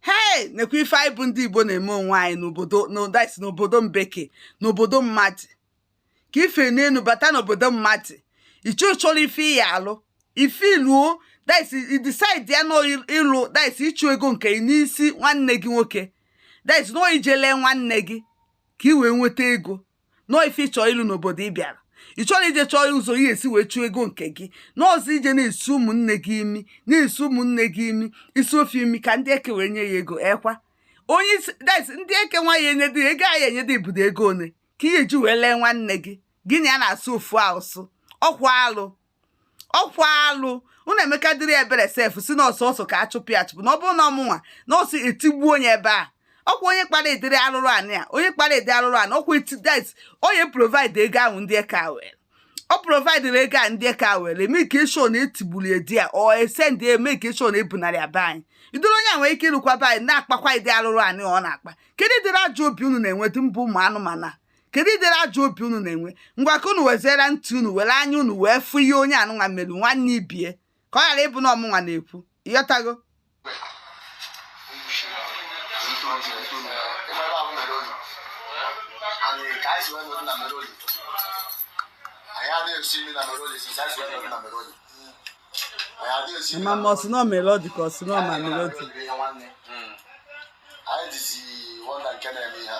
hei nekwa ife anyị bụ ndị igbo na-eme onwe anyị n'obodo mbeke n'obodo mmadụ ka i fe n'elu bata n'obodo mmadụ ije chọrọ ife ị ya-alụ ife i luo i decide ya na ịlụ sị ịchụ ego nke n'isi nwanne gị nwoke sị na ọ ije lee nwanne gị ka ị wee nweta ego na ọ ife ị chọ ịlụ n'obodo ị bịara ị chọrọ ije chọọ ụzọ ị ya-esi wee chụọ ego nke gị na ọzị ije na-esi ụmụnne gị imi na-esi ụmụnne gị imi i sie fa imi ka ndị eke wee nye ya ego ekwa onye isi ndị eke nwa ya-enyedị ego ọ ya-enyedị ibudo ego one ka ị ya-eji wee lee nwanne gị gị na ya na-asụ ofu asụ ọkwa alụ ọkwa alụ unu emekadịrị ebere sef sị na ọ sọsọ ka a chụpụ ya achụpụ na ọ bụrụ na ọ mụnwa na ọ sọ etigbuo onye ebe a ọkwa onye kpara ụdịrị arụrụ anị a onye kpara ụdị arụrụ anị ọkwa etidet onye provide ego ahụ ndị eke a were ọ providere ego a ndị eke a were immigration etigburu edi a ọ e send immigration ebunara ya be anyị ụdịrị onye a nwere ike irukwa be anyị na-akpakwa ụdị arụrụ anị ọ na-akpa kedu ụdịrị ajọ obi unu na-enwedị mbụ ụmụ anụmanụ a kedu ụdịrị ajọ obi unu na-enwe ngwa ka unu weziere ntị unu were anya unu wee fụ ihe onye anụnwa mere nwanne ibe ya ka ọ ghara ịbụ na ọ mụnwa na-ekwu ị ghọtago ma ma ọsị nọ melody ka ọsị nọ ma melody anyị dịzi wonder nke na-eme ihe a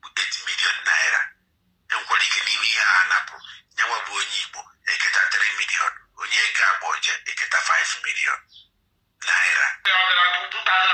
bụ 8 million naira e nwekwara ike n'ime ihe a napụrụ nyanwa bụ onye Igbo eketa 3 million onye Cambodia eketa 5 million naira